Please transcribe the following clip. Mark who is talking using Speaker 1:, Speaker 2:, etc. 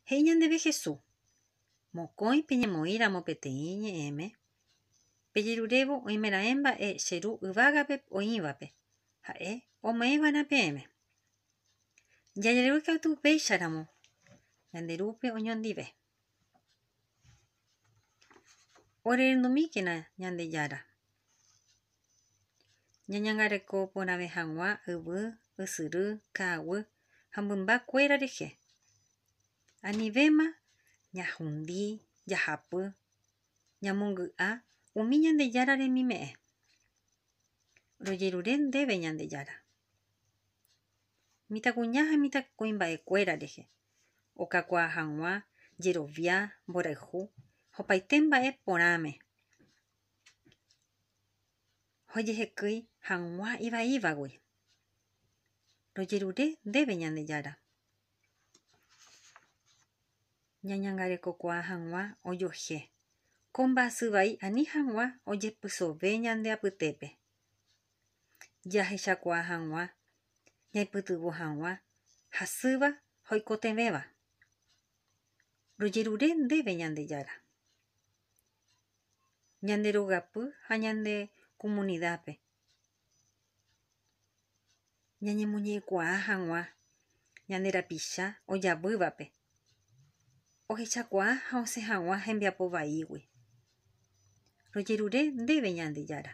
Speaker 1: He'i ñandéve Jesús, Mokõi peñemoĩramo peteĩ ñe'ẽme, pejerurévo oimeraẽ mba'e che Ru yvágape oĩvape, ha'e ome'ẽva'erã peẽme. Jajerure katu upéicharamo, ñande Rúpe oñondive. Orenondumíkena Ñandejára. Ñañangareko porãve hag̃ua yvy, ysyry, ka'aguy ha mymba kuéra rehe. Anivéma ñahundi, jahapy, ñamongy'a umi Ñandejára remime'ẽ. Rojerure ndéve Ñandejára. mitãkuña ha mitãkuimba'ekuéra rehe, okakuaa hag̃ua jerovia, mborayhu ha opaite mba'e porãme jojehekýi hag̃ua ivaívagui. Rojerure ndéve Ñandejára, ñañangarekokuaa hag̃ua ojoje ko mba'asy vai ani hag̃ua ojepysove ñande apytépe. jahechakuaa hag̃ua, ñaipytyvõ hag̃ua hasýva ha oikotevẽva. Rojerure ndéve Ñandejára, ñande rogapy ha ñande komunidápe. ñañemoñe'ẽkuaa hag̃ua ñande rapicha ojavývape, ohechakuaa ha osẽ hag̃ua hembiapo vaígui. Rojerure ndéve Ñandejára.